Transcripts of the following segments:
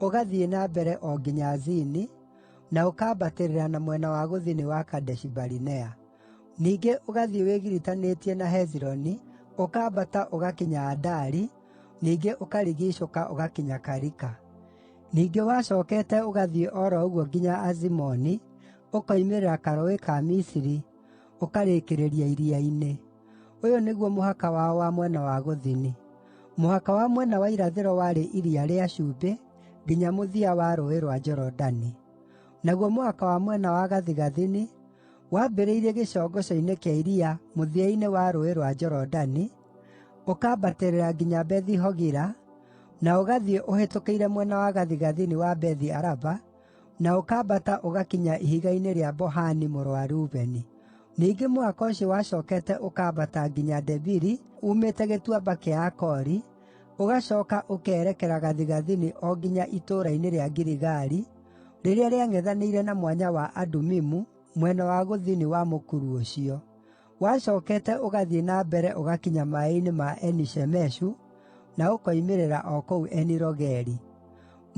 ũgathiĩ na mbere o nginya Zini, na ũkambatĩrĩra na mwena wa gũthini wa Kadeshi-Barinea. Ningĩ ũgathiĩ wĩgiritanĩtie na Hezironi, ũkambata ũgakinya Adari, ningĩ ũkarigiicũka ũgakinya Karika. Ningĩ wacookete ũgathiĩ o ro ũguo nginya Azimoni, ũkoimĩrĩra karũũĩ ka Misiri, ũkarĩkĩrĩria iria-inĩ. Ũyũ nĩguo mũhaka wao wa mwena wa gũthini: Mũhaka wa mwena wa irathĩro warĩ Iria rĩa Cumbĩ nginya mũthia wa Rũũĩ rwa Jorodani. Naguo mũhaka wa mwena wa gathigathini wambĩrĩirie gĩcongoco-inĩ kĩa iria mũthia-inĩ wa Rũũĩ rwa Jorodani, ũkambatĩrĩra nginya Bethi-Hogila, na ũgathiĩ ũhĩtũkĩire mwena wa gathigathini wa Bethi-Araba, na ũkambata ũgakinya ihiga-inĩ rĩa Bohani mũrũ wa Rubeni. Ningĩ mũhaka ũcio wacookete ũkambata nginya Debiri uumĩte Gĩtuamba kĩa Akori, ũgacooka ũkerekera gathigathini o nginya itũũra-inĩ rĩa Giligali, rĩrĩa rĩang'ethanĩire na Mwanya wa Adumimu mwena wa gũthini wa mũkuru ũcio. Wacookete ũgathiĩ na mbere ũgakinya maaĩ-inĩ ma Eni-Shemeshu, na ũkoimĩrĩra o kũu Eni-Rogeli.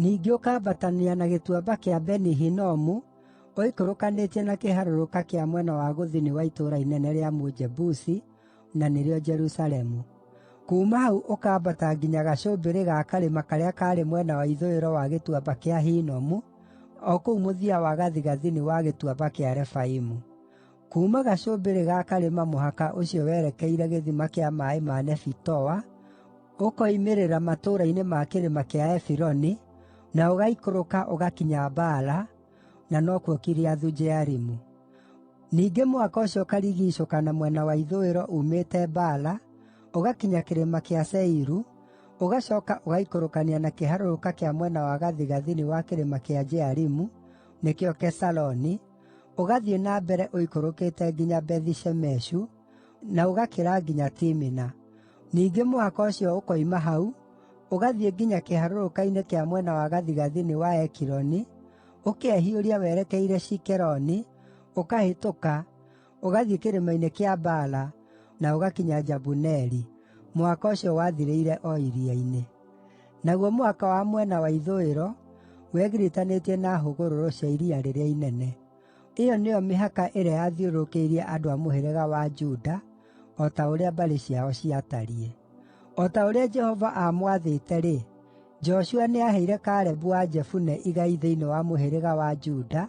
Ningĩ ũkambatania na Gĩtuamba kĩa Beni-Hinomu ũikũrũkanĩtie na kĩharũrũka kĩa mwena wa gũthini wa itũũra inene rĩa Mũjebusi, na nĩrĩo Jerusalemu. Kuuma hau ũkambata nginya gacũmbĩrĩ ga karĩma karĩa kaarĩ mwena wa ithũĩro wa Gĩtuamba kĩa Hinomu, o kũu mũthia wa gathigathini wa Gĩtuamba kĩa Refaimu. Kuuma gacũmbĩrĩ ga karĩma mũhaka ũcio werekeire gĩthima kĩa maaĩ ma Nefitoa, ũkoimĩrĩra matũũra-inĩ ma kĩrĩma kĩa Efironi, na ũgaaikũrũka ũgakinya Baala (na nokuo Kiriathu-Jearimu). Ningĩ mũhaka ũcio ũkarigiicũka na mwena wa ithũĩro uumĩte Baala, ũgakinya kĩrĩma kĩa Seiru, ũgacooka ũgaaikũrũkania na kĩharũrũka kĩa mwena wa gathigathini wa kĩrĩma kĩa Jearimu (nĩkĩo Kesaloni), ũgathiĩ na mbere ũikũrũkĩte nginya Bethi-Shemeshu, na ũgakĩra nginya Timina. Ningĩ mũhaka ũcio ũkoima hau, ũgathiĩ nginya kĩharũrũka-inĩ kĩa mwena wa gathigathini wa Ekironi, ũkehiũria werekeire Shikeroni, ũkahĩtũka, ũgathiĩ kĩrĩma-inĩ kĩa Baala na ũgakinya Jabuneeli (mũhaka ũcio wathirĩire o iria-inĩ). Naguo mũhaka wa mwena wa ithũĩro wegiritanĩtie na hũgũrũrũ cia Iria rĩrĩa Inene. Ĩyo nĩyo mĩhaka ĩrĩa yathiũrũrũkĩirie andũ a mũhĩrĩga wa Juda, o ta ũrĩa mbarĩ ciao ciatariĩ. O ta ũrĩa Jehova aamwathĩte-rĩ, Joshua nĩaheire Kalebu wa Jefune igai thĩinĩ wa mũhĩrĩga wa Juda,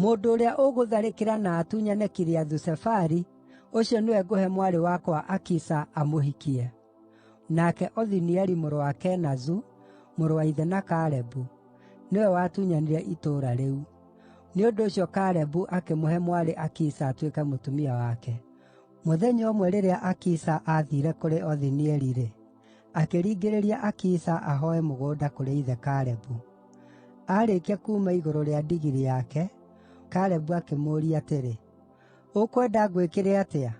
Mũndũ ũrĩa ũgũtharĩkĩra na atunyane Kiriathu-Sefari, ũcio nĩwe ngũhe mwarĩ wakwa Akisa amũhikie.” Nake Othinieli mũrũ wa Kenazu, mũrũ wa ithe na Kalebu, nĩwe watunyanire itũũra rĩu. Nĩ ũndũ ũcio Kalebu akĩmũhe mwarĩ Akisa atuĩke mũtumia wake. Mũthenya ũmwe rĩrĩa Akisa aathiire kũrĩ Othinieli-rĩ, akĩringĩrĩria Akisa ahooe mũgũnda kũrĩ ithe Kalebu. Aarĩkia kuuma igũrũ rĩa ndigiri yake, Kalebu akĩmũũria atĩrĩ, “Ũkwenda ngwĩkĩre atĩa?”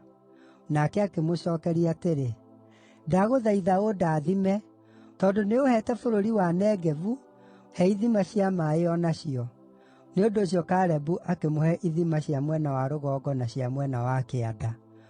Nake akĩmũcookeria atĩrĩ, “Ndagũthaitha ũndathime, tondũ nĩũũheete bũrũri wa Negevu, he ithima cia maaĩ o nacio.” Nĩ ũndũ ũcio Kalebu akĩmũhe ithima cia mwena wa rũgongo na cia mwena wa kĩanda.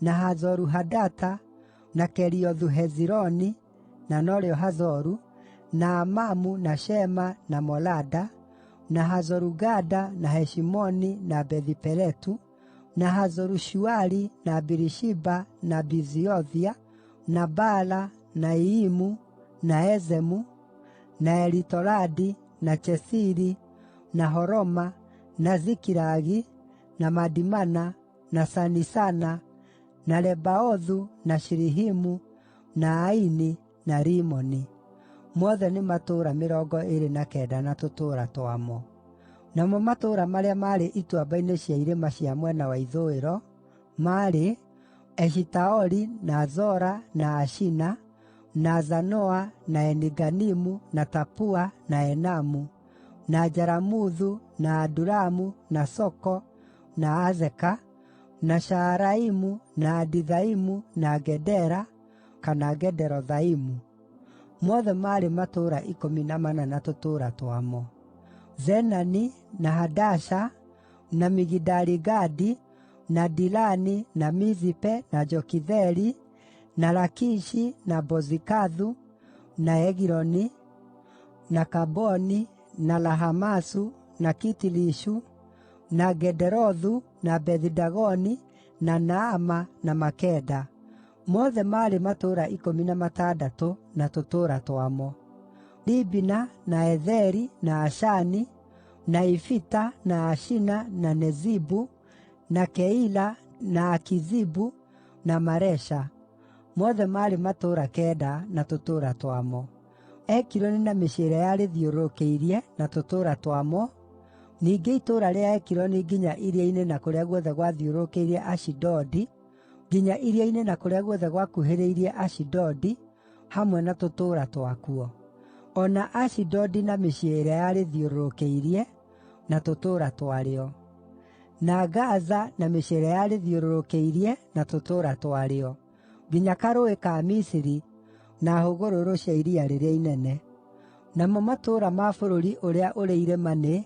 na Hazoru-Hadata, na Keriothu-Hezironi (na no rĩo Hazoru), na Amamu, na Shema, na Molada, na Hazoru-Gada, na Heshimoni, na Bethi-Peletu, na Hazoru-Shuali, na Birishiba, na Biziothia, na Baala, na Iyimu, na Ezemu, na Elitoladi, na Chesiri, na Horoma, na Zikilagi, na Madimana, na Sanisana, na Lebaothu, na Shilihimu, na Aini, na Rimoni; mothe nĩ matũũra mĩrongo ĩĩrĩ na kenda na tũtũũra twamo. Namo matũũra marĩa maarĩ ituamba-inĩ cia irĩma cia mwena wa ithũĩro maarĩ: Eshitaoli, na Zora, na Ashina, na Zanoa, na Eni-Ganimu, na Tapua, na Enamu, na Jaramuthu, na Adulamu, na Soko, na Azeka, na Shaaraimu, na Adithaimu, na Gedera (kana Gederothaimu); mothe maarĩ matũũra ikũmi na mana na tũtũũra twamo. Zenani, na Hadasha, na Migidali-Gadi, na Dilani, na Mizipe, na Jokitheeli, na Lakishi, na Bozikathu, na Egiloni, na Kaboni, na Lahamasu, na Kitilishu, na Gederothu, na Bethi-Dagoni, na Naama, na Makeda; mothe maarĩ matũũra ikũmi na matandatũ na tũtũũra twamo. Libina, na Ezeri, na Ashani, na Ifita, na Ashina, na Nezibu, na Keila, na Akizibu, na Maresha; mothe maarĩ matũũra kenda na tũtũũra twamo. Ekironi na mĩciĩ ĩrĩa yarĩthiũrũrũkĩirie, na tũtũũra twamo, ningĩ itũũra rĩa Ekironi nginya iria-inĩ na kũrĩa guothe gwathiũrũrũkĩirie Ashidodi, nginya iria-inĩ na kũrĩa guothe gwakuhĩrĩirie Ashidodi, hamwe na tũtũũra twakuo; o na Ashidodi na mĩciĩ ĩrĩa yarĩthiũrũrũkĩirie, na tũtũũra twarĩo; na Gaza na mĩciĩ ĩrĩa yarĩthiũrũrũkĩirie, na tũtũũra twarĩo. nginya karũũĩ ka Misiri, na hũgũrũrũ cia iria rĩrĩa inene. Namo matũũra ma bũrũri ũrĩa ũrĩ irĩma nĩ: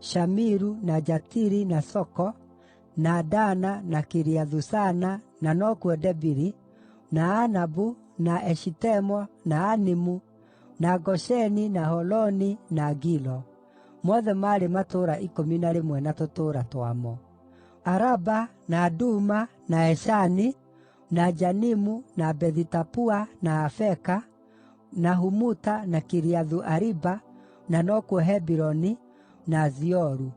Shamiru, na Jatiri, na Soko, na Dana, na Kiriathu-Sana (na nokuo Debiri), na Anabu, na Eshitemoa, na Animu, na Gosheni, na Holoni, na Gilo; mothe maarĩ matũũra ikũmi na rĩmwe na tũtũũra twamo. Araba, na Duma, na Eshani, na Janimu, na Bethi-Tapua, na Afeka, na Humuta, na Kiriathu-Ariba (na nokuo Hebironi), na Zioru;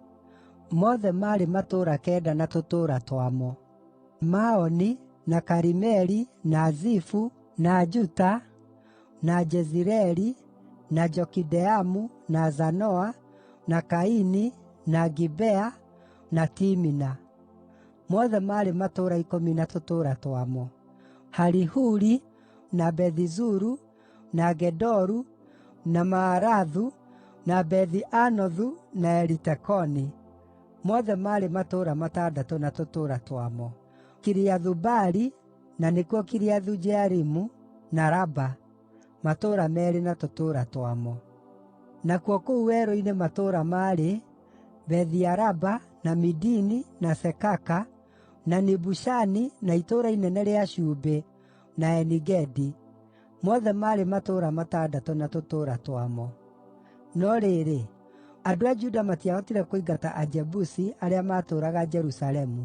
mothe maarĩ matũũra kenda na tũtũũra twamo. Maoni, na Karimeli, na Zifu, na Juta, na Jezireeli, na Jokideamu, na Zanoa, na Kaini, na Gibea, na Timina; mothe maarĩ matũũra ikũmi na tũtũũra twamo. Harihuri, na Bethi-Zuru, na Gedoru, na Maarathu, na Bethi-Anothu, na Elitekoni, mothe maarĩ matũũra matandatũ na tũtũũra twamo. Kiriathu-Baali (na nĩkuo Kiriathu-Jearimu), na Raba, matũũra meerĩ na tũtũũra twamo. Nakuo kũu werũ-inĩ matũũra maarĩ: Bethi-Araba, na Midini, na Sekaka, na Nibushani, na Itũũra Inene rĩa Cumbĩ, na Eni-Gedi; mothe maarĩ matũũra matandatũ na tũtũũra twamo. No rĩrĩ, andũ a Juda matiahotire kũingata Ajebusi arĩa maatũũraga Jerusalemu.